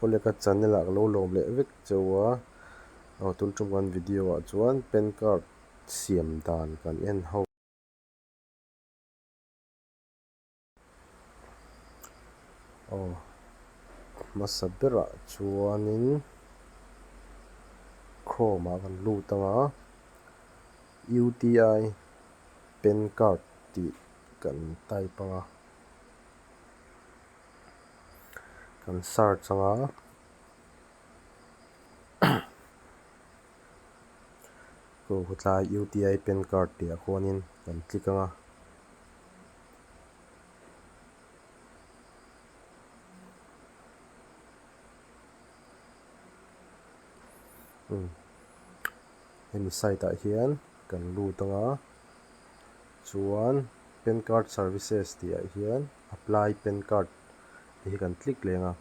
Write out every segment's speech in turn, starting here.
Uleka channel-ah ka lo lawm leh vek che u a, aw tun ṭum kan video-ah chuan pan card siam dan kan en ho. Aw hmasa berah chuanin chrome-ah kan lut anga UTI pan card tih kan type anga. kan search anga khawtlai uti pen card tih ah khuanin kan click anga hemi site ah hian kan lut anga. Chuan Pan Card Services tih ah hian Apply Pan Card te hi kan click leng a.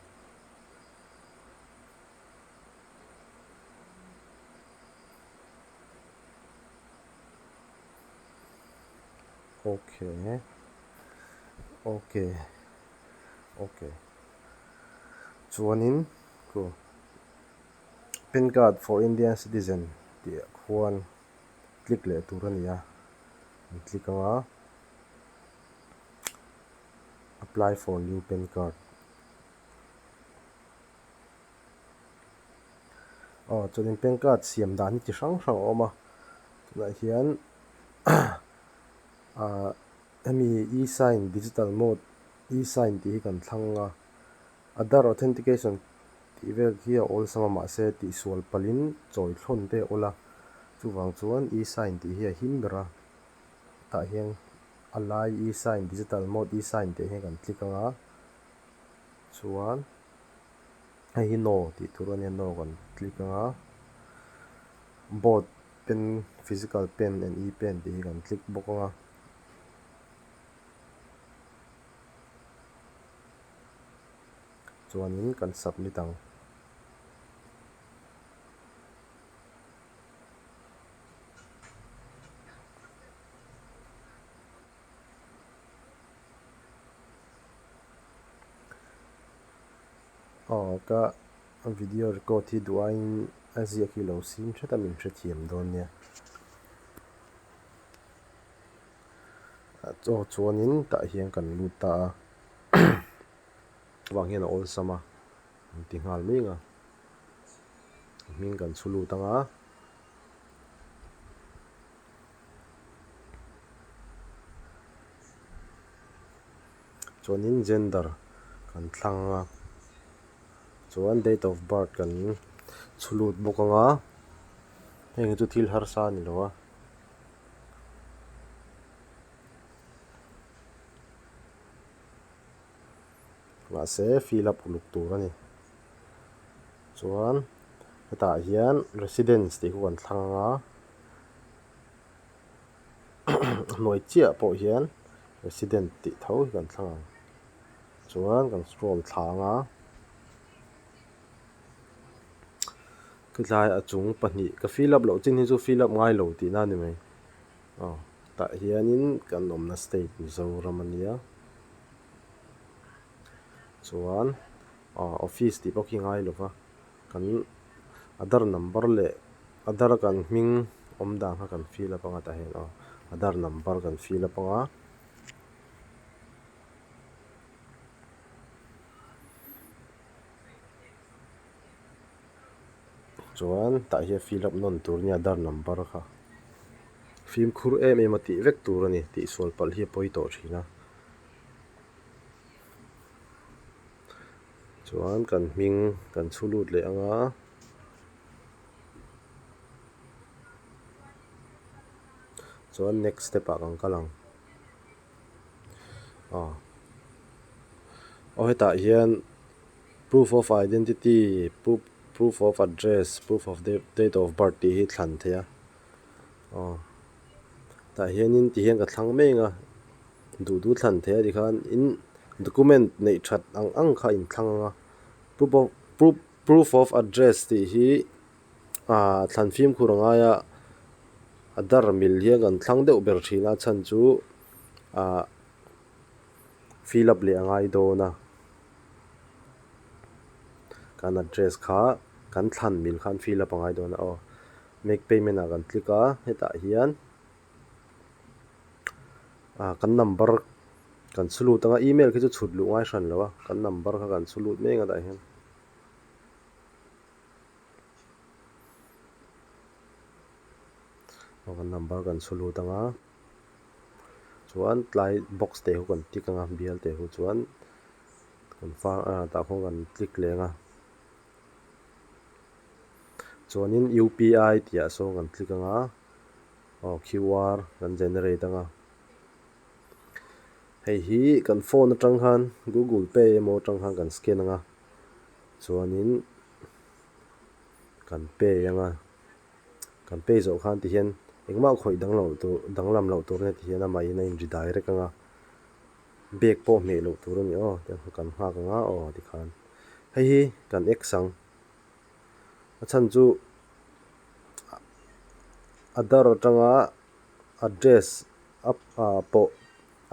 OK. OK. OK. Chuanin Pan Card for Indian Citizen tih ah khuan. click leh tur a ni a an click anga apply for new pan card aw chuanin pan card siam dan hi chi hrang hrang a awm a tunah hian ahh hemi e sign digital mode e sign tih hi kan thlang a. Aadhaar Authentication tih vel hi a awlsam a mahse tihsual palhin chawi thlawn te a awla, chuvang chuan e-sign tih hi a him ber a. Tah hian a lai e-sign, Digital Mode e-sign, teh hi kan click anga chuan hei hi No tih tur a nia, No kan click anga Both Pen, Physical Pen and e-Pen tih hi kan click bawk anga. chuanin kan submit ang. Aw ka video record hi duh aiin a ziak hi lo sim thet a min hrethiam dawn nia. Chaw chuanin tah hian kan lut ta a. Chuvang hian a awlsam a, an ti nghal mai ang a. A hming kan chhu lut ang a. Chuanin gender kan thlang ang a. Chuan date of birth kan chhu lut bawk ang a. Heng chu thil harsa a ni lo a. mahse fill up uluk tur a ni chuan hetah hian residence tih huan thlang ang a a hnuai chiah pawh hian resident tih tho hi kan thlang ang chuan kan scroll thla ang a. Khithlai a chung pahnih ka fill up loh chin hi chu fill up ngai lo tihna a ni mai. Aw tah hianin kan awmna state Mizoram a nia. Chuan aw office tih pawh khi ngai lo va, kan Aadhar number leh Aadhar kan hming awm dan kha kan fill up anga tah hian aw Aadhar number kan fill up anga. chuan tah hian fill up nawn tur nia dar number kha fimkhur em em a tih vek tur a ni tih sual palh hi a pawi tawh thin a chuan kan hming kan chhu lut leh ang a chuan next step ah kan kal ang. Aw hetah hian proof of identity proof of address proof of date of birth tih hi thlan theih a aw tah hianin ti hian ka thlang mai anga duh duh thlan theih a ti khan in document neih that ang ang kha a in thlang anga proof of proof of address tih hi-- Aa, thlan fimkhur a ngai a, a dar mil hian kan thlang deuh ber thin a, chhan chu aa fill up leh a ngai dawn a, kan address kha kan thlan mil khan fill up a ngai dawn a, aw make payment ah kan click a, hetah hian aa kan number kan chhu lut ang a, email khi chu chhut luh ngai hran lo a, kan number kha kan chhu lut meng a tah hian. Aw kan number kan chhu lut ang a, chuan tlai box te ho kan tik ang a bial te ho chuan confirm ah tah khawn kan click leng a, chuanin UPI tih ah sawn kan click ang a, aw QR kan generate ang a, hei hi kan phone atang khan Google pay emaw atang khan kan scan ang a. Chuanin kan pay ang a, kan pay zawh khan tih hian engmah khawih dang loh tur danglam loh tur nge tih hian a maiin a in redirect ang a, bag pawh hmeh loh tur a ni aw tia kha kan nghak ang a aw ti khan. Hei hi kan ex ang, a chhan chu Adar atanga address a pawh.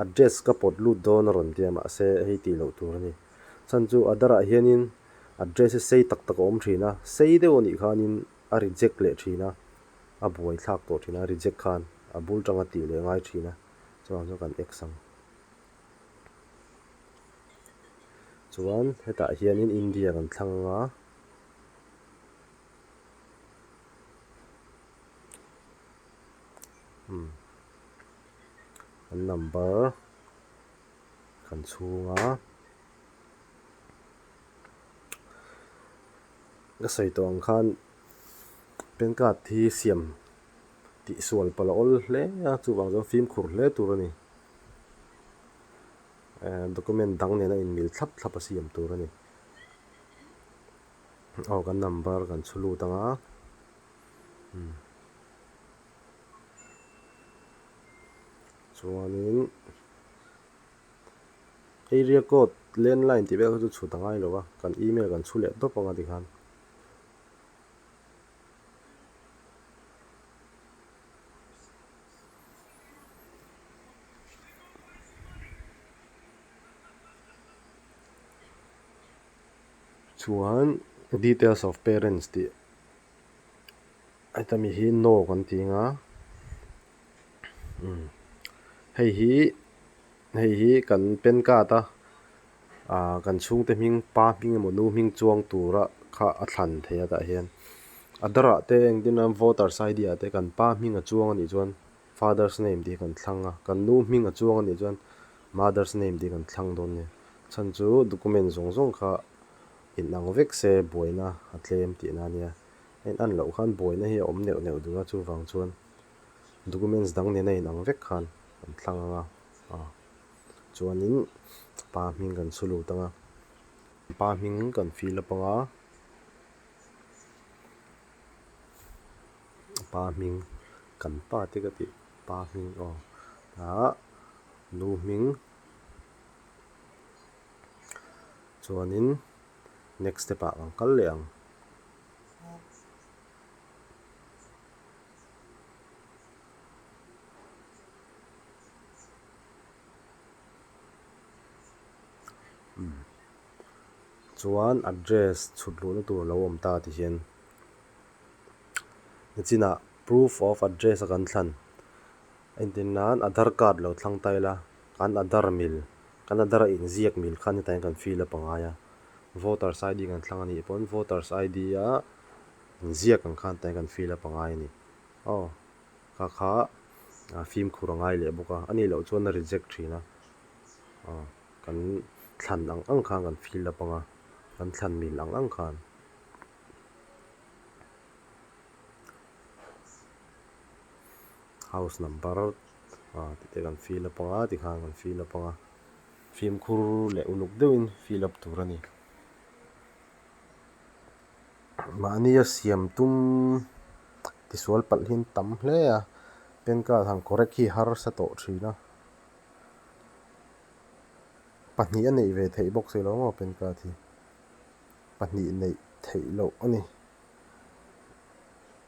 Address ka pawt lut dawn a rawn tia mah se hei tih loh tur a ni. Chhan chu Aadhar ah hianin address hi sei tak tak a awm thin a, sei deuh a nih khanin a reject leh thin a, a buai thlak tawh thin a, reject khan a bul tang a tih leh ngai thin a, chuvang chuan kan X ang. Chuan hetah hianin India kan thlang anga, umm. kan number kan chhung a la sawi tawh ang khan pen card hi siam tih sual pala awl hle a chuvang chuan fimkhur hle tur a ni ehh document dang nena inmil thlap thlap a siam tur a ni aw kan number kan chhu lut ang a. chuanin area code landline tih vel kha chu chhut a ngai lo a kan email kan chhu leh dawp ang a ti khan chuan details of parents tih-- Heta mi hi no kan ti anga umm hei hi hei hi kan pen card a ah kan chhungte hming pa hming emaw nu hming chuang tura kha a thlan thei a tah hian aadhar ah te engtin a voters ID ah te kan pa hming a chuang a nih chuan father's name tih kan thlang a kan nu hming a chuang a nih chuan mother's name tih kan thlang dawn a ni chhan chu document zawng zawng kha inang vek se buaina a tlem tihna a nia. En an loh khan buaina hi a awm neuh neuh duh a, chuvang chuan documents dang nena inang vek khan kan thlang ang a, ah chuanin pa hming kan chhu lut anga, pa hming kan fill up anga, pa hming kan pa te ka tih pa hming aw ah nu hming chuanin next step ah kan kal leh ang. chuan address chhut luhna tur lo awm ta ti hian i chinah proof of address a kan thlan. Engtin nan Aadhar card lo thlang ta ila, kan Aadhar mil, kan Aadhar a inziak mil khan hetaiin kan fill a pangai a. Voters ID kan thlang a nih pawn, Voters ID a inziak ang khan hetaiin kan fill a pangai a ni. Aw, kha kha fimkhur a ngai leh bawk a, ani loh chuan a reject thin a. Aw, kan thlan ang ang khan kan fill a panga, kan thlan mil ang ang khan. House number ah tih te kan fill apang a tikhan kan fill apang a fimkhur leh uluk deuhin fill up tur a ni mahnia siam tum tisual palhin tam hle a pan card han correct hi harsa tawh thin a pahnih a neih ve theih bawk si lo maw pan card hi pahnih neih theih loh a ni.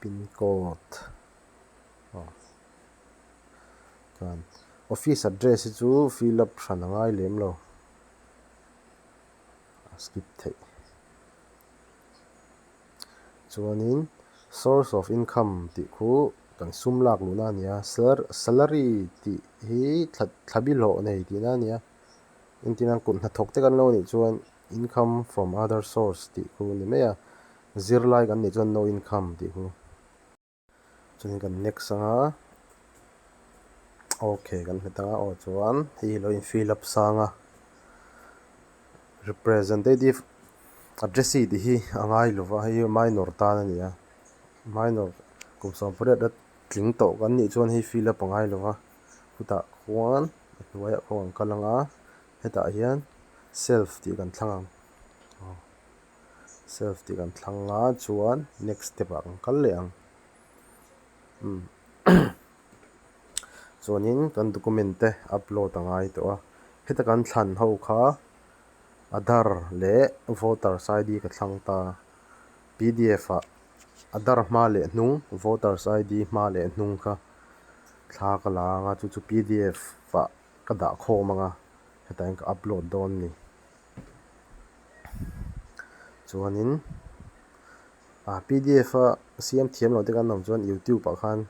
pin code aw chuan office address hi chu fill up hran a ngai lem lo a skip theih chuanin source of income tih khu kan sum lak luh na nia sal salary tih hi thla thlabi hlawh a nei tihna nia engtilang kut hnathawk te kan lo nih chuan-- Income from other source tih khuh ni mai a, zirlai kan nih chuan no income tih khuh. Chuan kan next anga ok kan hmet anga aw chuan hei hi lo in fill up sang a, representative addressee tih hi a ngai lo va, hei hi minor tan a ni a, minor kum sawmpariat a tling tawh kan nih chuan hei fill up a ngai lo va, khutah khuan a hnuaiah khuan a rawn kal anga Hetah hian self tih kan thlang ang. Aw, self tih kan thlang a chuan next step ah kan kal leh ang. Umm, chuanin kan document te upload a ngai tawh a. Heta kan thlan ho kha Aadhar leh Voters ID ka thlang ta. Pdf ah Aadhar hma leh hnung, Voters ID hma leh hnung kha thla ka la ang a, chu chu pdf ah. ka dah khawm anga hetahin ka upload dawn ni chuanin a pdf a siam thiam lo te kan awm chuan youtube ah khan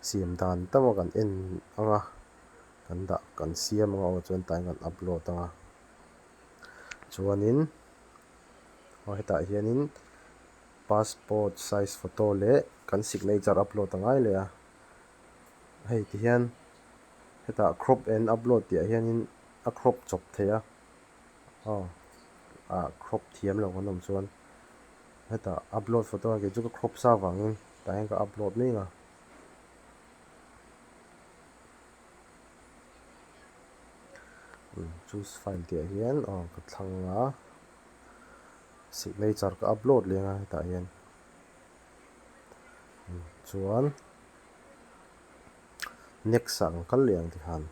siam dan tama kan en anga kan dah kan siam anga aw chuan hetah hian kan upload anga chuanin aw hetah hianin passport size photo leh kan signature upload ta ngai leh a. Hei ti hian hetah crop and upload tih ah hianin a crop chawp thei a, aw ah crop thiam lo kan awm chuan heta upload photo ang chu ka crop sa vangin tah hian ka upload mai anga. Choose file tih ah hian aw ka thlang a signature ka upload leh anga hetah hian. chuan next ah ang kal leh ang tihan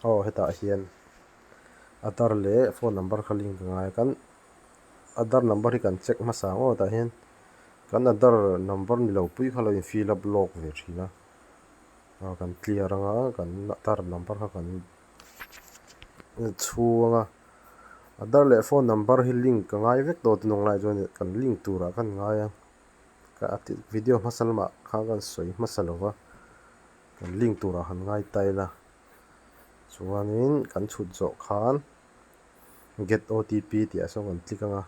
Aw hetah hian Aadhar leh phone number kha link ka ngai a, kan Aadhar number hi kan check hmasa ang aw tah hian kan Aadhar number ni lo pui kha lo in fill up lawk ve thin a, aw kan clear ang a kan Aadhar number kha kan chhu ang a, Aadhar leh phone number hi link ka ngai vek tawh te hnung lai chuan in kan link turah khan ngai a, ka video hmasa lamah kha kan sawi hmasa lo va. Kan link turah han ngai tile a, chuanin kan chhut zawh khan get OTP tihah sawn kan click anga,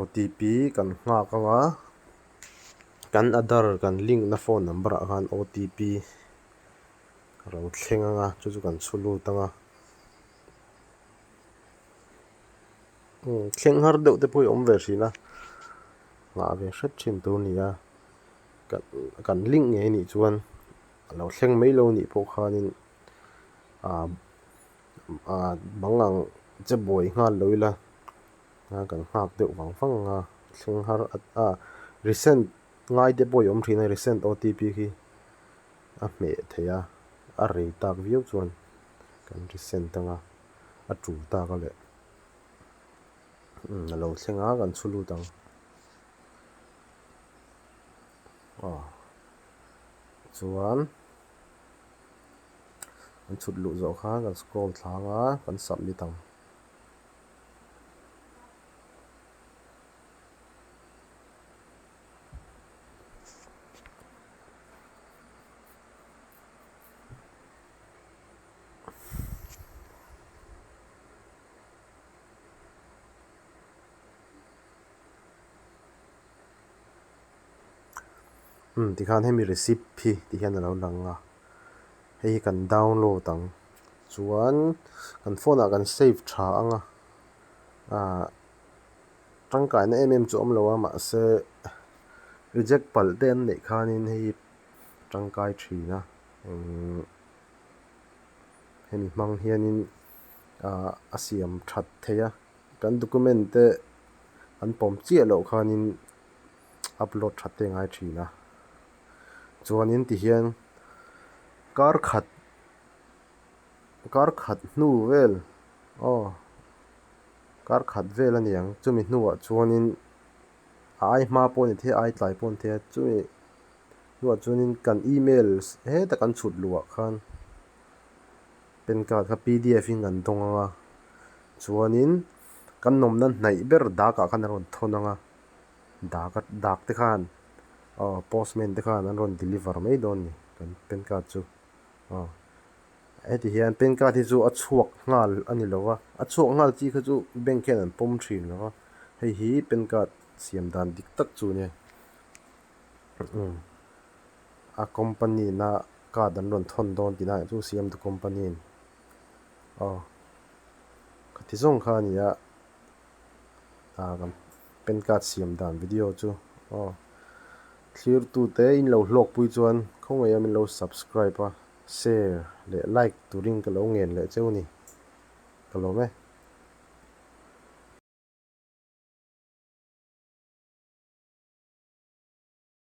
OTP kan nghak anga kan adhar kan link na phone number ah khan OTP ka lo thleng anga chu chu kan chhu lut anga, thleng har deuh te pawh hi awm ve thin a nghah ve hret thin tur a ni a. kan kan link ngei anih chuan a lo thleng mai lo anih pawh khanin ah ah bang ang che buai nghal lo ila a kan nghak deuh vang vang anga thleng har ah resend ngai te pawh i awm thin a resend otp khi a hmeh theih a a rei tak viau chuan kan resend anga a tul tak a leh a lo thleng a kan chhu lut ang. aw chuan kan chhut luh zawh khan kan scroll thlang a kan submit ang Umm tikhan hemi receipt hi tih hian a lo lang a hei hi kan download ang chuan kan phone ah kan save tha ang a ah tangkaina em em chu awm lo a mahse reject palh te an neih khanin hei hi tangkai thin a umm hemi hmang hianin ah a siam that theih a. Kan document te an pawm chiah loh khanin upload that te ngai thin a, chuanin tihian kar khat kar khat hnu vel aw kar khat vel a niang chumi hnuah chuanin a ai hma pawh a ni thei a a ai tlai pawh a ni thei a chumi hnuah chuanin kan email hetah kan chhut luah khan. Pen card kha pdf in kan tawng ang a, chuanin kan nawmna hnaih ber dakah khan an rawn thawn ang a, dak a dak te khan aw postman te khan an rawn deliver mai dawn a ni kan pen card chu aw heti hian pen card hi chu a chhuak nghal a ni lo va, a chhuak nghal chi kha chu bank hian an pawm thin lo va, hei hi pen card siam dan dik tak chu nia. a company na card an rawn thawn dawn tina eng chu siam the company in aw ka ti zawng kha a ni a aa kan pen card siam dan video chu aw thlir tu te in lo hlawk pui chuan khawngei a min lo subscribe a share leh like turin ka lo ngen leh cheu ni ka lawm e.